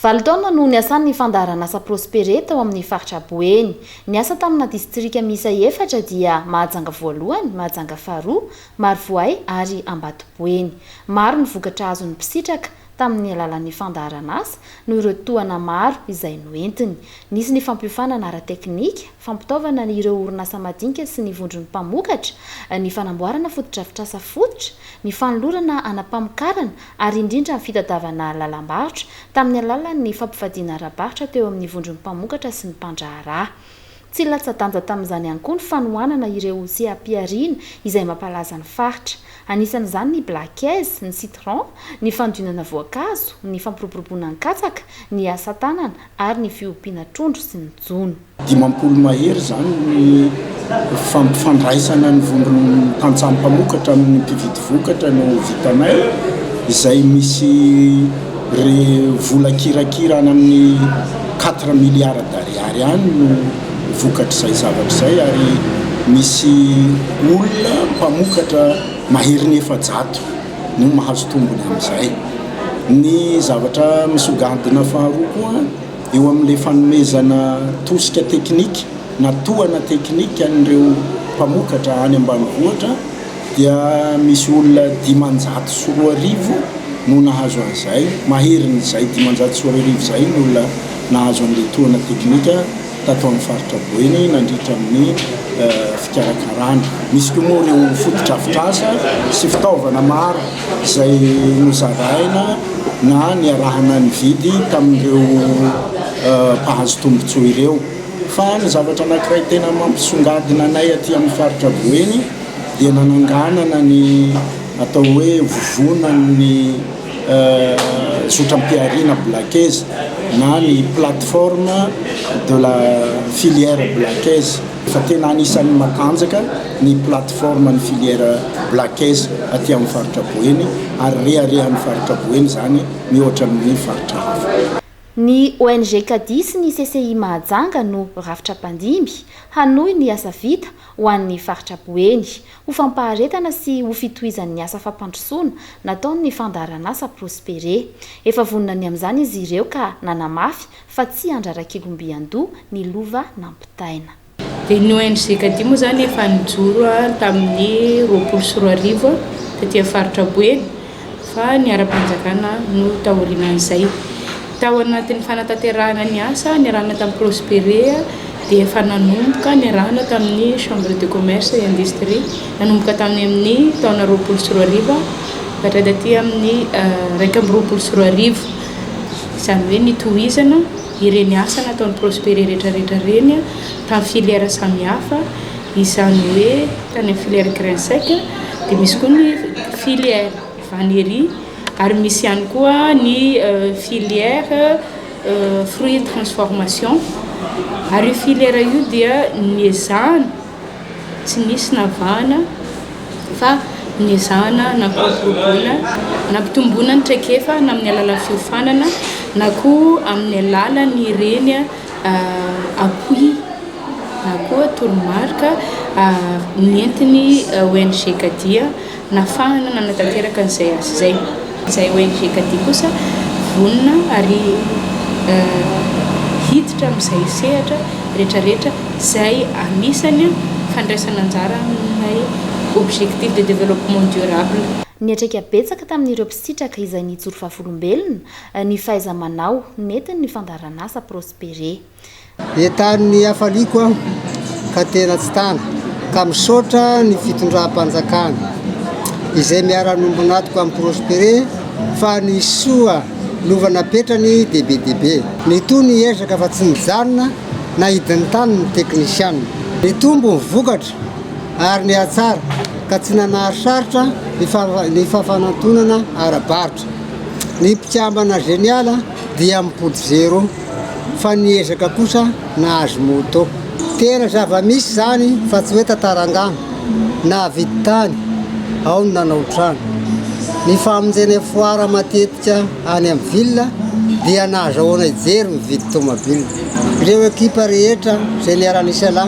Valo taona no niasany ny fandaharanasa Prospere tao amin'ny faritra Boeny. Niasa tamina distrika miisa efatra dia Mahajanga voalohany, Mahajanga faharoa, Marovoay ary Ambatoboeny. Maro ny vokatra azon'ny mpisitraka. Tamin'ny alalan'ny fandaharan'asa no ireo tohana maro izay noentiny. Nisy ny fampiofanana ara-teknika, fampitaovana ireo orinasa madinika sy ny vondron'ny mpamokatra, ny fanamboarana fotodrafitrasa fototra, ny fanolorana ana mpamokarana ary indrindra ny fitadiavana lalam-barotra tamin'ny alalan'ny fampivadiana ara-barotra teo amin'ny vondron'ny mpamokatra sy ny mpandraharaha. Tsy latsa-danja tamin'izany ihany koa ny fanohanana ireo seha-pihariana izay mampalaza ny faritra. Anisan'izany ny Black Eyes, ny Citron, ny fandionana voankazo, ny fampiroboroboana ny katsaka, ny asa tanana ary ny fiompiana trondro sy ny jono. Dimampolo mahery izany ny fampifandraisana ny vondron'ny tantsaha mpamokatra amin'ny mpividy vokatra no vitanay izay misy. Ry vola kirakira any amin'ny quatre milliards d'ariary any no vokatr'izay zavatra izay ary misy olona mpamokatra maherin'ny efajato no mahazo tombony amin'izay. Ny zavatra misongadina faharoa koa eo amin'ilay fanomezana tosika teknika na tohana teknika an'ireo mpamokatra any ambanivohitra, dia misy olona dimanjato sy roa arivo no nahazo an'izay, maherin'izay dimanjato sy roa arivo izay ny olona nahazo an'ilay tohana teknika tato amin'ny faritra Boeny nandritra ny fikarakarana. Misy koa moa ireo fotodrafitrasa sy fitaovana maro izay nozaraina na niarahana nividy tamin'ireo mpahazo tombontsoa ireo. Fa ny zavatra anankiray tena mampisongadina anay aty amin'ny faritra Boeny dia nananganana ny atao hoe vovonan'ny zotram-pihariana Blackaise na ny Plateforme de la Filière Blackaise fa tena anisan'ny matanjaka ny plateforme-n'ny filière Blackaise aty amin'ny faritra Boeny ary reharehan'ny faritra Boeny izany mihoatra ny faritra hafa. Ny ONG Cadiz sy ny CCI Mahajanga no rafitra mpandimby hanohy ny asa vita ho an'ny faritra Boeny, ho fampaharetana sy ho fitohizan'ny asa fampandrosoana nataon'ny fandaharanasa Prospere. Efa vonona ny amin'izany izy ireo ka nanamafy fa tsy handrarak'igomby an-doha ny lova nampitaina. Dia ny ONG Kadia moa izany efa nijoro tamin'ny roapolo sy roa arivo taty amin'ny faritra Boeny fa ny ara-panjakana no taorianan'izay. Tao anatin'ny fanatanterahana ny asa niarahana tamin'ny Prospere dia efa nanomboka niarahana tamin'ny Chambre de Commerce et Industrie nanomboka tamin'ny amin'ny taona roapolo sy roa arivo ka hatraty taty amin'ny iraika amby roapolo sy roa arivo, izany hoe nitohizana ireny asa nataon'ny Prospere rehetrarehetra ireny tamin'ny filière samihafa. Izany hoe tany amin'ny filière grain sec dia misy koa ny filière vannerie ary misy ihany koa ny filière fruits de transformation ary io filière io dia niezahana tsy nisy navahana fa niezahana nampiroboroboana nampitomboina ny traikefa na amin'ny alalan'ny fiofanana na koa amin'ny alalan'ireny appui na koa toromarika nentin'ny ONG Kadia nahafahana nanatanteraka an'izay asa izay. Izay ONG Kadia kosa vonona ary hiditra amin'izay sehatra rehetrarehetra izay anisany fandraisana anjara amin'ilay objectif de développement durable. Niatrika betsaka tamin'ireo mpisitraka izay nijoro vavolombelona Ny fahaiza-manao, nentiny ny fandaharan'asa Prospere. Entany ny hafaliako aho ka tena tsy tana ka misaotra ny fitondram-panjakana izay miara-nombo natiko amin'i Prospere fa ny soa lova napetrany dia be dia be. Nitohy ny ezaka fa tsy nijanona na hidin'ny tany ny teknisiana. Nitombo ny vokatra ary nihatsara ka tsy nanary sarotra ny fafanantonana ara-barotra. Ny mpikambana Genial dia mipody zero fa ny ezaka kosa nahazo moto. Tena zava-misy izany fa tsy hoe tantara angano. Nahavidy tany, ao ny nanao trano. Ny famonjena foara matetika any amin'ny ville dia nahazahoana hijery mividy tomabila. Ireo ekipa rehetra Genial Nissan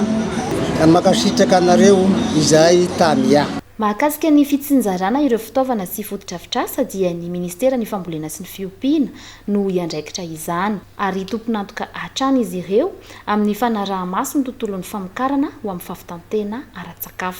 Mankasitraka anareo izahay Tamiya. Mahakasika ny fitsinjarana ireo fitaovana sy fotodrafitrasa dia ny Ministeran'ny Fambolena sy ny Fiompiana no hiandraikitra izany ary tompon'antoka hatrany izy ireo amin'ny fanaraha-maso ny tontolon'ny famokarana ho amin'ny fahavitan-tena ara-tsakafo.